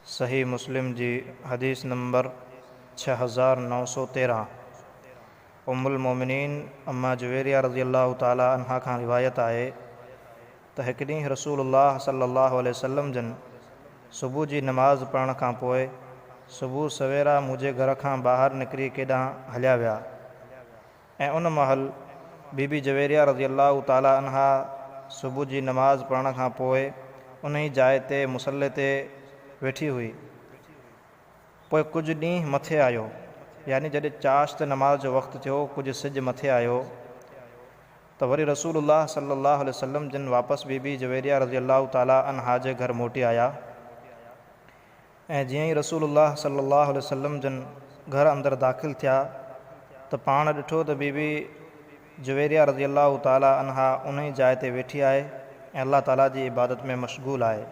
صحيح مسلم جي حديث نمبر ڇهه هزار نو سؤ تيرهن ام المؤمنين اما جويريه رضي الله تعالٰي عنها کان روايت آهي ته هڪ ڏينهن رسول الله صلي الله عليه وسلم جن صبح جي نماز پڙهڻ کان پوء صبح سويرا منهنجي گهر کان ٻاهر نڪري ڪيڏانهن هليا ويا. ۽ ان مهل بي بي جويريه رضي الله تعالٰي عنها صبح جي نماز پڙهڻ کان پوء انهي جاء تي مصلي تي ويٺي هئي. پوء ڪجهه ڏينهن مٿي آيو، يعني جڏهن چاشت نماز جو وقت ٿيو، ڪجهه سج مٿي آيو ته وري رسول الله صلي الله عليه وسلم جن واپس بي بي جويريه رضي الله تعالٰي عنها جي گهر موٽي آيا. ۽ جيئن ئي رسول الله صلي الله عليه وسلم جن گهر اندر داخل ٿيا ته پاڻ ڏٺو ته بي بي جويريه رضي الله تعالٰي عنها انهي جاء تي ويٺي آهي ۽ الله تعالٰي جي عبادت ۾ مشغول آهي.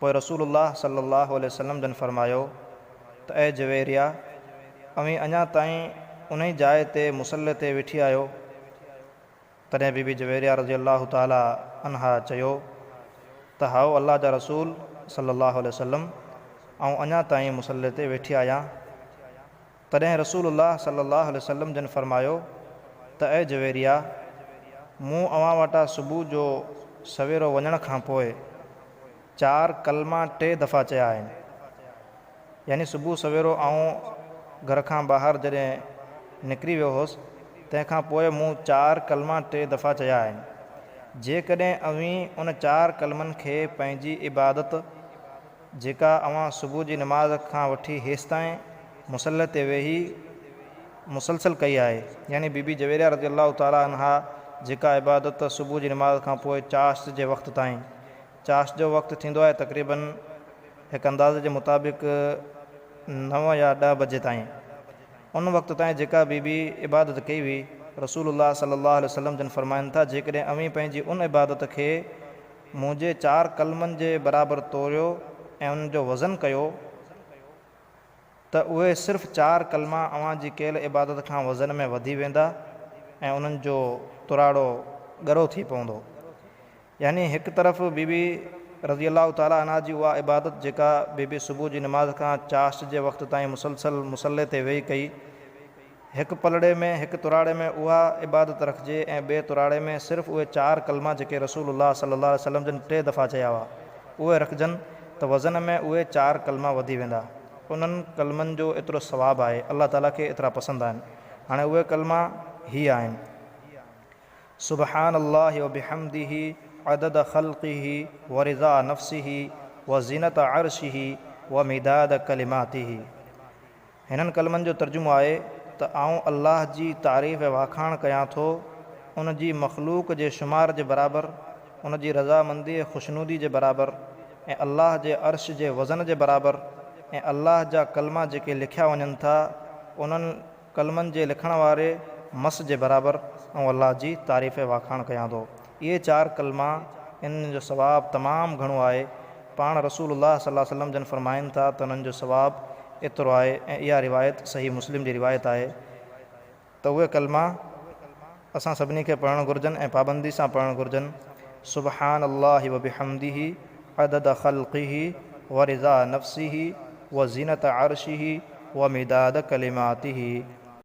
پوء رسول الله صلي الله عليه وسلم جن فرمايو ته اي جويريه! اوهين اڃا تائين انهي جاء تي مصلي تي ويٺي آهيو؟ تڏهن بي بي جويريه رضي الله تعالٰي عنها چيو ته هائو الله جا رسول صلّي الله عليه وسلّم آئون اڃا تائين مصلي تي ويٺي آهيان تڏهن رسول الله صلّي الله عليه وسلّم جن فرمايو ته اي جويريه مون اوهان وٽان صبح جو سويرو وڃڻ کانپوء چار ڪلما ٽي دفعا چيا آهن. يعني صبح سويرو آئون گهر کان ٻاهر جڏهن نڪري ويو هوس، تنهن کان پوء مون چار ڪلما ٽي دفعا چيا آهن. جيڪڏهن اوهين ان چار ڪلمن کي پنهنجي عبادت، جيڪا اوهان صبح جي نماز کان وٺي هيستائين مصلي تي ويهي مسلسل ڪئي آهي، يعني بي بي جويريا رضي الله تعالٰي عنها جيڪا عبادت صبح جي نماز کان پوء چاشت جي وقت تائين چاشت جو وقت ٿيندو آهي تقريباً هڪ اندازي جي مطابق نو يا ڏهه بجي تائين. ان وقت تائين جيڪا بي بي عبادت ڪئي هئي، رسول الله صلي الله عليه وسلم جن فرمائن ٿا، جيڪڏهن اوهين پنهنجي ان عبادت کي منهنجي چار قلمن جي برابر توريو ۽ ان جو وزن ڪيو، ته اهي صرف چار ڪلما اوهان جي ڪيل عبادت کان وزن ۾ وڌي ويندا ۽ انهن جو تراڙو ڳرو ٿي پوندو. يعني هڪ طرف بي بي رضي الله تعالٰي عنها جي اها عبادت جيڪا بي بي صبح جي نماز کان چاشت جي وقت تائين مسلسل مصلي تي ويهي ڪئي، هڪ پلڙي ۾ هڪ تراڙي ۾ اها عبادت رکجي ۽ ٻئي تراڙي ۾ صرف اهي چار ڪلما جيڪي رسول الله صلي الله عليه وسلم جن ٽي دفعا چيا هئا اهي رکجن ته وزن ۾ اهي چار ڪلما وڌي ويندا انهن ڪلمن جو ايترو ثواب آهي الله تعالي کي ايترا پسند آهن هاڻي اهي ڪلما هي آهن سبحان الله وبحمده عدد خلقه ورضاء نفسه وزينة عرشه ومداد ڪلماته. هنن ڪلمن جو ترجمو آهي ته آئون الله جي تعريف ۽ واکاڻ ڪيان ٿو، ان جي مخلوق جي شمار جي برابر، ان جي رضامندي ۽ خوشنودي جي برابر ۽ الله جي عرش جي وزن جي برابر ۽ الله جا ڪلما جيڪي لکيا وڃن ٿا انهن ڪلمن جي لکڻ واري مس جي برابر آئون الله جي تعريف ۽ واکاڻ ڪيان ٿو اهي چار ڪلما انهن جو ثواب تمام گهڻو آهي، پاڻ رسول الله صلي الله عليه وسلم جن فرمائن ٿا ته انهن جو ثواب ايترو آهي ۽ اها روايت صحيح مسلم جي روايت آهي ته اهي ڪلما اسان سڀني کي پڙهڻ گهرجن ۽ پابندي سان پڙهڻ گهرجن، سبحان الله وبحمده عدد خلقه ورضا نفسه وزينة عرشه ومداد ڪلماته.